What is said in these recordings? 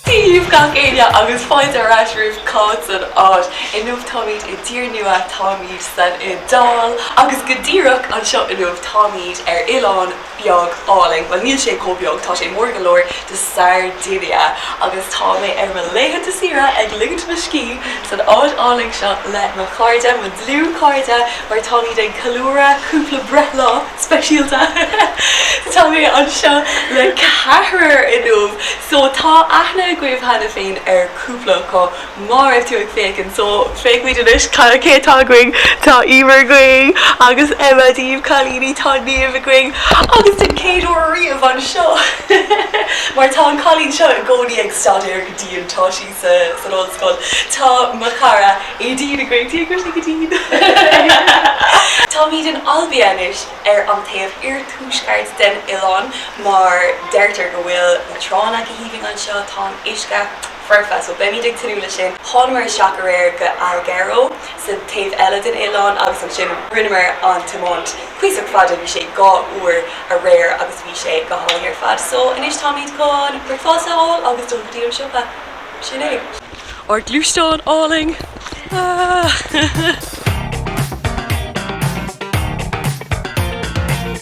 Dia daoibh gach éinne agus fáilte ar ais romhaibh, táim san áit inniu. Táimid i dtír nua, táimid san Iodáil agus go díreach anseo inniu táimid ar oileán. beag álainn, bhuel níl sé chomh beag, tá sé mór go leor, de Sardinia agus tá mé ar mo laethanta saoire ag ligint mo scíth san áit álainn seo le mo chairde, mo dhlúthchairde mar táimid ag ceiliúradh cúpla breithlá speisialta. Tá mé anseo le ceathrar inniu so tá aithne agaibh cheana féin ar cúpla acu, Má bhí tú ag féachaint, so féachfaimid anois cad, cé atá againn. Tá Emer againn agus Emma, Dia daoibh cailíní tá Niamh againn agus don chéad uair ariamh anseo mar tá an cailín seo i gcónaí ag staidéar go dian, tá sí sa, san ollscoil, tá mo chara Aideen againn, Dia dhuit, Aideen! Táimid in Olbia anois ar an taobh iarthuaisceart den oileán mar deirtear go bhfuil na tránna go haoibhinn anseo, tá an uisce. foirfe, so beimid ag tnúth leis sin. Thánamar isteach aréir go Alghero, sa taobh eile den oileán agus ansin rinneamar an tiomáint cuíosach fada, bhí sé dhá uair aréir agus bhí sé go hálainn ar fad. So anois táimid chun bricfeasta a fháil agus dul go dtí an siopa. Sin é. Ár gluaisteán álainn! Ahh!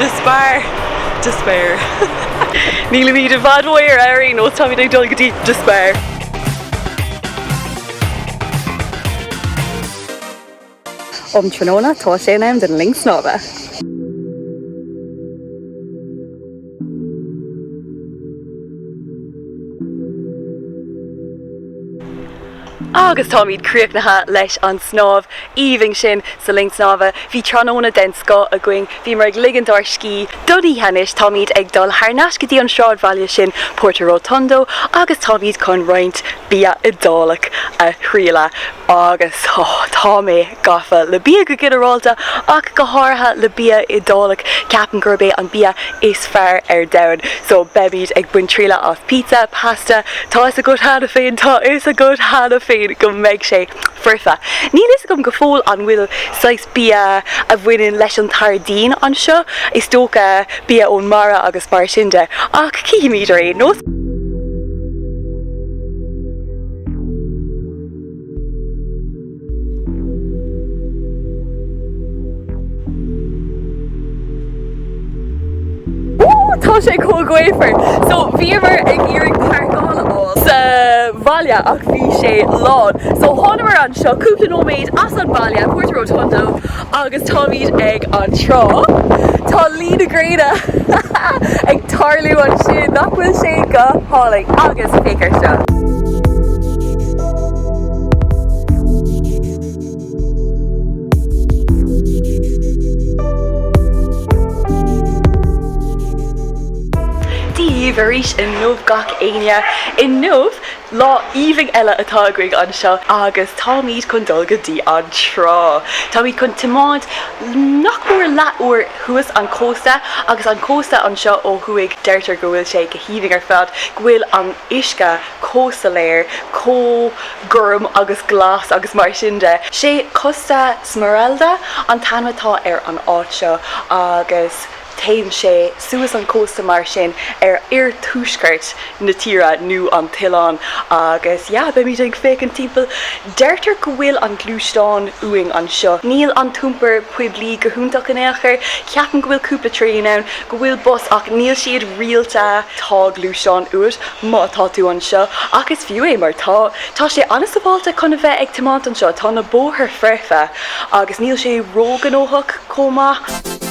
De Spar! De Spar! Nílimid i bhfad ónár Airbnb, táimid ag dul go dtí De Spar! Um tráthnóna, tá sé in am don linn snámha! Agus táimid críochnaithe leis an snámh aoibhinn sin sa linn snámha. Bhí tráthnóna den scoth againn. Bhíomar ag ligint ár scíth don oíche anois. Táimid ag dul thar n-ais go dtí an sráidbhaile sin Porto Rotondo agus táimid chun roinnt bia Iodálach a thrialladh. Agus, oh, tá mé. gafa le bia go ginearálta, ach go háirithe le bia Iodálach, ceapaim gurb é an bia is fearr ar domhan. So, beimid ag baint trialla as pizza, pasta, tá 'fhios agat cheana féin, tá 'fhios agat cheana féin go mbeidh sé foirfe. Níl 'fhios agam go fóill an bhfuil saghas bia a bhaineann leis an tSairdín anseo, is dócha bia ón mara agus mar sin de, ach cífimid ar aon nós. Tá sé chomh gaofar! So, bhíomar ag iarraidh parkáil a fháil sa bhaile ach bhí sé lán. So, thánamar anseo cúpla nóiméad as an bhaile, Porto Rotondo, Agus táimid ag an trá. Tá luí na gréine ag tarlú ansin, nach bhfuil sé go hálainn? Agus féach ar seo. Dia dhaoibh arís inniu gach éinne. Inniu Lá aoibhinn eile atá againn anseo agus táimid chun dul go dtí an trá. Táimid chun tiomáint nach mór leath uair thuas an cósta agus an cósta anseo ó thuaidh deirtear go bhfuil sé go haoibhinn ar fad, go bhfuil an uisce chomh soiléir, chomh gorm agus glas agus mar sin de. Sé Costa Smeralda an t-ainm atá ar an áit seo agus. Téann sé suas an cósta mar sin ar oirthuaisceart na tíre nó an t-oileán agus yeah, beimid ag féachaint timpeall. Deirtear go bhfuil an gluaisteán uainn anseo. Níl an t-iompar poiblí go hiontach in aon chor. Ceapaim go bhfuil cúpla traein ann, go bhfuil bus ach níl siad rialta. Tá gluaisteán uait má tá tú anseo ach is fiú é mar tá, tá sé an-sabháilte chun a bheith ag tiomáint anseo, tá na bóthair foirfe agus níl sé ró-ghnóthach chomh maith.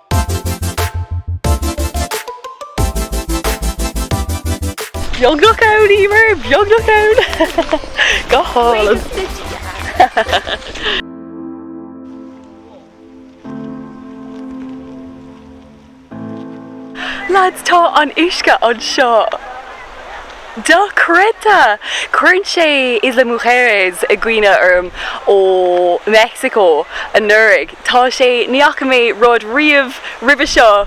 Beagnach ann, Emer! Beagnach ann! Go hálainn! Lads, tá an uisce anseo! Dochreidte! Cuireann sé Isla Mujeres i gcuimhne orm ó Mheicsiceo anuraidh. Tá sé, ní fhaca mé rud riamh roimhe seo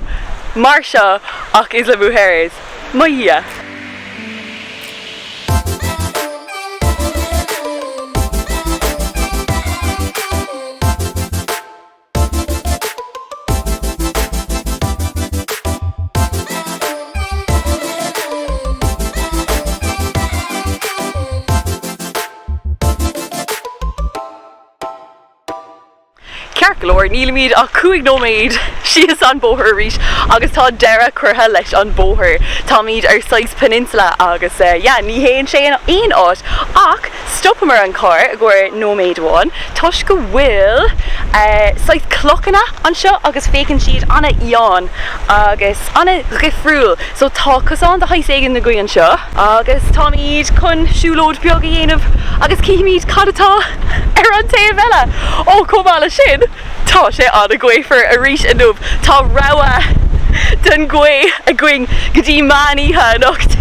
mar seo ach Isla Mujeres. Mo dhia! Ceart go leor, nílimid ach cúig nóiméad síos an bóthar arís agus tá deireadh curtha leis an bóthar. Táimid ar saghas peninsula agus yeah, ní théann sé in aon áit ach. Stopamar an carr i gcomhair nóiméid amháin toisc go bhfuil saghas clochanna anseo agus féachann siad an-fhiáin agus an-dhifriúil so tá cosán de shaghas éigin le gaineamh anseo agus táimid chun siúlóid beag a dhéanamh agus cífimid cad atá ar an taobh eile! Ó, chomh maith le sin tá sé an-ghaofar arís inniu, tá rabhadh den ghaoth againn go dtí meán oíche anocht!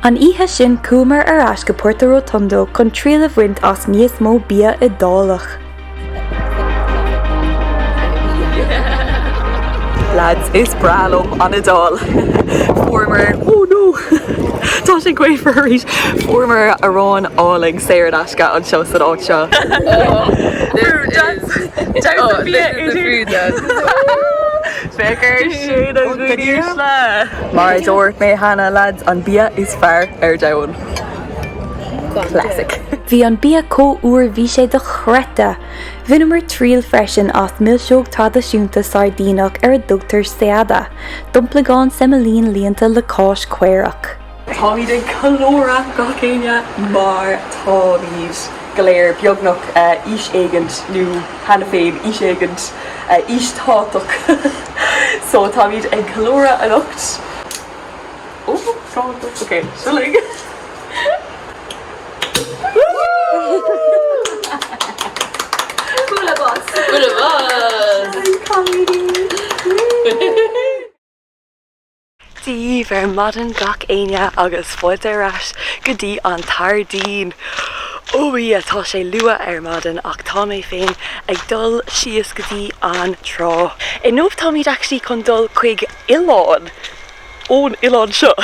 An oíche sin chuamar ar ais go Porto Rotondo chun triail a bhaint as níos mó bia Iodálach. Lads, is breá liom an Iodáil! Fuaireamar, oh no, tá sé gaofar arís! Fuaireamar arán álainn saor in aisce anseo san áit seo. This is, oh, this is the food then! B'fhearr sin an ghainimh le. Mar a dúirt mé cheana, lads, an bia is fearr ar domhan. Classic. Bhí an bia chomh úr bhí sé dochreidte! Bhaineamar triail freisin as milseog traidisiúnta Sairdíneach ar a dtugtar Seada, domplagáin semailín líonta le cáis caorach. Táimid ag ceiliúradh gach éinne mar táimid go léir beagnach aois éigint nó cheana féin aois éigint, aois thábhachtach, so táimid ag ceiliúradh anocht, oh tábhachtach, ok, seo linn, woo-hoo-hoo, full of us, full of us, cailíní, woo. díobh ar maidin gach éinne agus fáilte ar ais go dtí an tSairdín. Ói atá sé luath ar maidin ach tá mé féin ag dul síos go dtí an trá. Inniu táimid actually chun dul chuig oileán ón oileán seo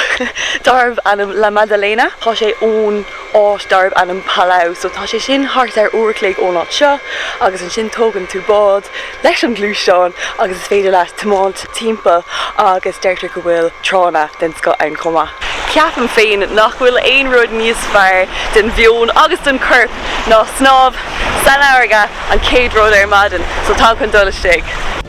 darbh ainm La Maddalena. Tá sé ón. áit darb ainm Palau, so tá sé sin thart ar uair a chloig ón áit seo agus ansin tógann tú bád leis an ngluaisteán agus is féidir leat tiomáint timpeall agus deirtear go bhfuil tránna den scoth ann chomh maith. Ceapaim féin nach bhfuil aon rud níos fearr don mheon agus don chorp ná snámh san fharraige an chéad rud ar maidin, so táim chun dul istigh.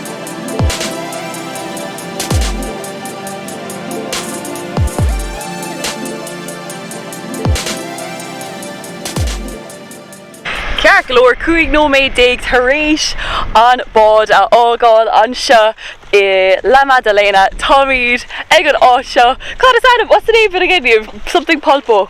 Ceart go leor, 15 nóiméad tar éis an bád a fhágáil anseo i La Maddalena, táimid ag an áit seo, cad is ainm, what's the name of it again Niamh? Something Polpo.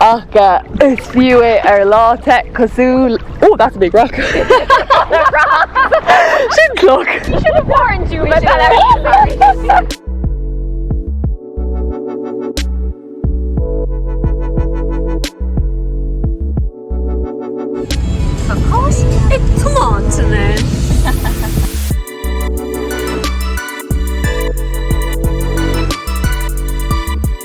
Ach is fiú é ar lá te cosúil Oh that's a big rock! Sin cloch!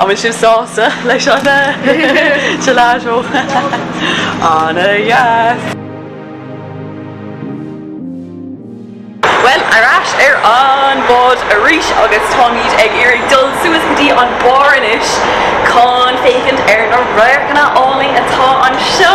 An bhfuil sibh sásta leis an gelato? Ana-dheas! Bhuel, ar ais ar an bhád arís agus táimid ag iarraidh dul suas go dtí an barr anois chun féachaint ar na radharcanna áille atá anseo.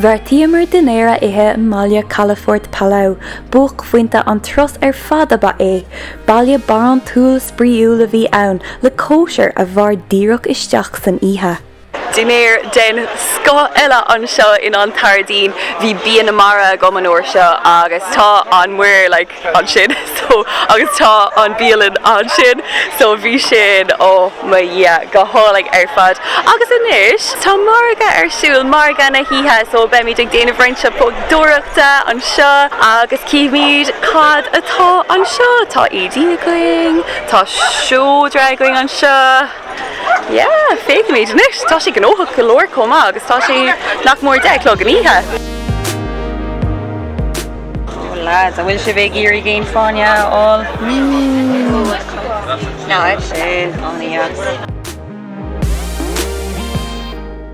Bheartaíomar dinnéar a ithe i mbaile calafort Palau, buaicphointe an turais ar fad ab ea é. Baile barántúil spraíúil a bhí ann, le cóisir a mhair díreach isteach san oíche. Dinnéar den scoth eile anseo sa tSairdín. Bhí bia na mara agam an uair seo agus tá an muir like ansin so agus tá an bhialann ansin so bhí sin oh mo dhia go hálainn ar fad. Agus anois tá margadh ar siúl, margadh na hoíche so beimid ag déanamh roinnt siopadóireachta anseo agus cífimid cad atá anseo. Tá éadaí againn, tá seodra againn anseo. Yeah, féachaimid anois, tá sé gnóthach go leor chomh maith agus tá sé nach mór deich a chlog san oíche. Oh lads, an bhfuil sibh ag iarraidh géin fáinne a fháil? Mmm. Ná sin, an aos.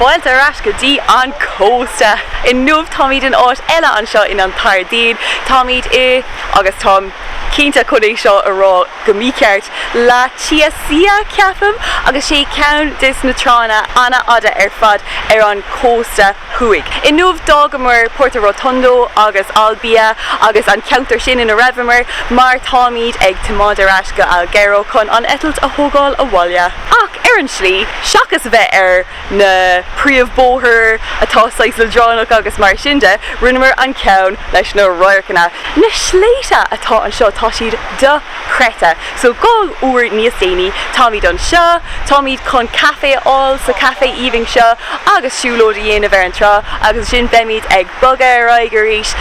Fáilte ar ais go dtí an cósta! Inniu táimid in áit eile anseo in An tSairdín. Táimid i, agus táim cinnte chun é seo a rá go mícheart, La Chiasia, ceapaim, agus sé ceann de na tránna an-fhada ar fad ar an gcósta thuaidh. Inniu d'fhágamar Porto Rotondo agus Olbia agus an ceantar sin ina raibheamar mar táimid ag tiomáint ar ais go hAlghero chun an eitilt a thógáil abhaile. Ach ar an tslí, seachas a bheith ar. na príomhbóthair atá saghas leadránach agus mar sin de, rinneamar an cheann leis na radharcanna. Na sléibhte atá anseo, tá siad do-chreidte, so dhá uair níos déanaí, táimid anseo, táimid chun caife a fháil sa caifé aoibhinn seo agus siúlóid a dhéanamh ar an trá agus ansin beimid ag bogadh ar aghaidh arís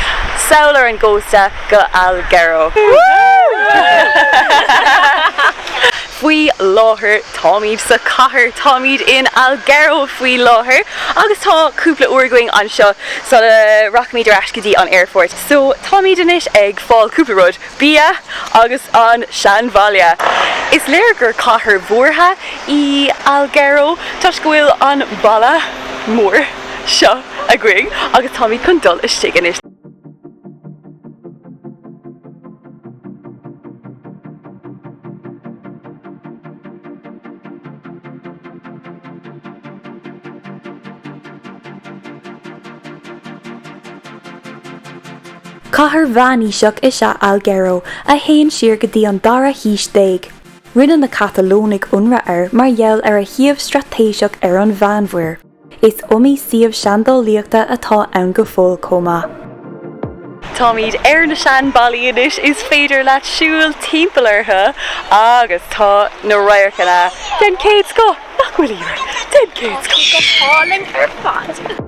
sall ar an gcósta go Alghero! Woo! Faoi láthair táimid sa cathair, táimid in Alghero faoi láthair agus tá cúpla uair againn anseo sula rachaimid ar ais go dtí an aerphort so táimid anois ag fáil cúpla rud, bia agus an seanbhaile! Is léir gur cathair mhúrtha í Alghero toisc go bhfuil an balla mór seo againn agus táimid chun dul istigh anois. Cathair mheánaoiseach is ea Alghero a théann siar go dtí an dara haois déag. Rinne na Catalónaigh ionradh air mar gheall ar a shuíomh straitéiseach ar an Mheánmhuir. Is iomaí suíomh seandálaíochta atá ann go fóill chomh maith. Táimid ar na sean ballaí anois, is féidir leat siúl timpeall orthu agus tá na radharcanna den chéad scoth, nach bhfuil Iarraidh, den chéad scoth go hálainn ar fad!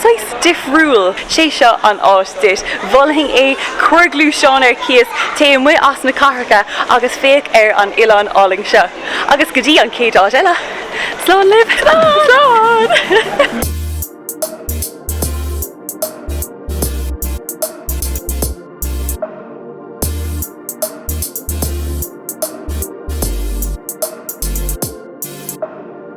Saghas difriúil. Sé seo an áit duit. Mholfainn é. Cuir gluaisteán ar cíos, téigh amuigh as na cathracha agus féach ar an oileán álainn seo. Agus go dtí an chéad uair eile, slán libh! Slán!